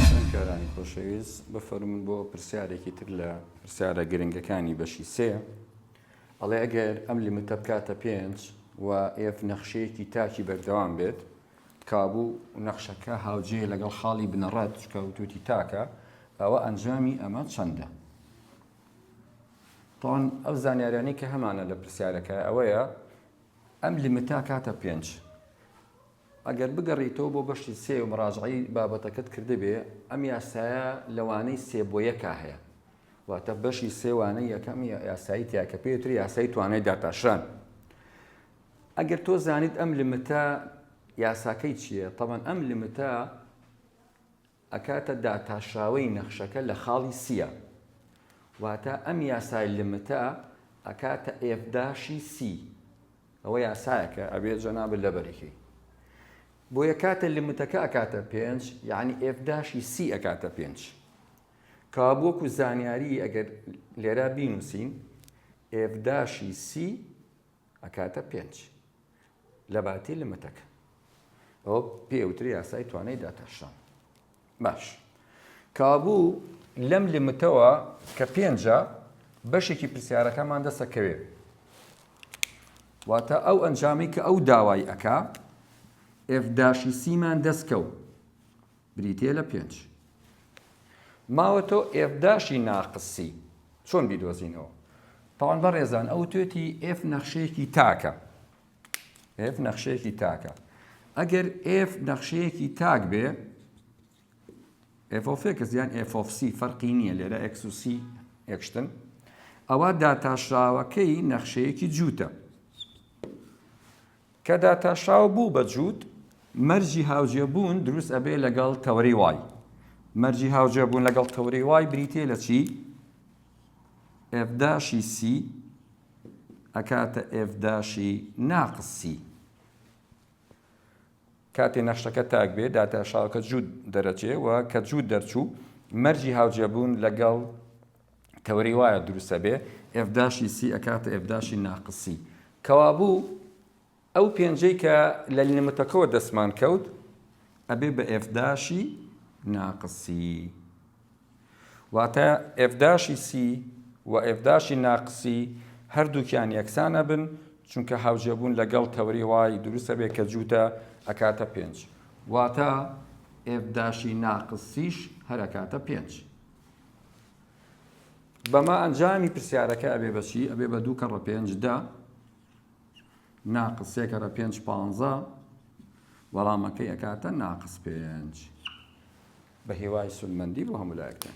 خوێندکارانی خۆشەویست بفەرموون بۆ پرسیارێکی تر لە پرسیارە گرنگەکانی بەشی سێ ئەڵێ ئەگەر ئەم لیمتە بکاتە پێنج و ئێف نەخشەیەکی تاکی بەردەوام بێت کابوو نەخشەکە هاوجێ لەگەڵ خاڵی بنەڕەت چکە وتوتی تاکە ئەوە ئەنجامی ئەمە چەندە تاوان ئەو زانیاریانی کە هەمانە لە پرسیارەکە ئەوەیە ئەم لیمتا کاتە پێنج ئەگەر بگەڕیتەوە بۆ بەشی سێ و مراجعەی بابەتەکەت کردبێ، ئەم یاسایە لە وانەی سێ بۆ یەکا هەیە. واتە بەشی سێ وانەی یەکەم یاسایی تیایە کە پێی وترێ یاسای توانای داتاشران. ئەگەر تۆ زانیت ئەم لمتە یاساکەی چییە، تەبەن ئەم لمتە، ئەکاتە داتاشراوەی نەخشەکە لە خاڵی سییە واتە ئەم یاسای لمتە ئەکاتە ئێف داشی سی ئەوە یاسایەکە ئەبێت جەنابت لەبەریکەی بۆیە کاتە لمتەکە ئەکاتە پێنج یعنی ئێف داشی سی ئەکاتە پێنج کابووەکو زانیاری ئەگەر لێرا بینوسین ئێف داشی سی ئەکاتە پێنج لەباتی لمتەکە ئەوە پێ ئەوترێ یاسای توانای داتاشان باش کابوو لەم لمتەوە کە پێنجە بەشێکی پرسیارەکەمان دەسەکەوێ واتە ئەو ئەنجامی کە ئەو داوای ئەکا ئفداشی سیمان دەستکەوت بریتیە لە پێنج ماوە تۆ ئێف داشی ناقسی چۆن بیدۆزینەوە؟ تاوان بەڕێزان ئەوتێتی ئێف نەخشەیەکی تاکە ئێف نەخشەیەکی تاکە ئەگەر ئێف نەخشەیەکی تاک بێ ئێفۆفێکس یان ئێفۆفسی فەرقی نییە لێرە ئەکسوسی یەکشتن ئەوە داتاشراوەکەی نەخشەیەکی جووتە کە داتاشاو بوو بە جووت، مەرجی هاوجێبوون دروست ئەبێ لەگەڵ تەوەری وای. مەرجی هاوجێبوون لەگەڵ تەوەری وای بریتیە لە چی؟ ئێف داشی سی ئەکاتە ئێف داشی ناقس سی. کاتێ نەخشەکە تاک بێ داتاشاوکە جووت دەرەچێ و کە جووت دەرچوو مەرجی هاوجێبوون لەگەڵ تەوەری وایە دروست ئەبێ ئێف داشی سی ئەکاتە ئێف داشی ناقس سی کەوابوو ئەو پێنجەی کە لە لیمتەکەەوە دەستمان کەوت ئەبێ بە ئێف داشی ناقس سی واتە ئێف داشی سی و ئێف داشی ناقسی هەردووکیان یەکسانە بن چونکە هاوجێبوون لەگەڵ تەوری وای دروستە بێ کە جووتە ئەکاتە پێنج واتە ئێف داشی ناقسیش هەرەکاتە پێنج بەمە ئەنجامی پرسیارەکە ئەبێ بە چی ئەبێ بە دوو کەڕە پێنج دە ناقس سێ کەرە پێنج پانزە وەڵامەکەی ئەکاتە ناقس پێنج بە هێوای سودمەندی بۆ هەموو لایەکتان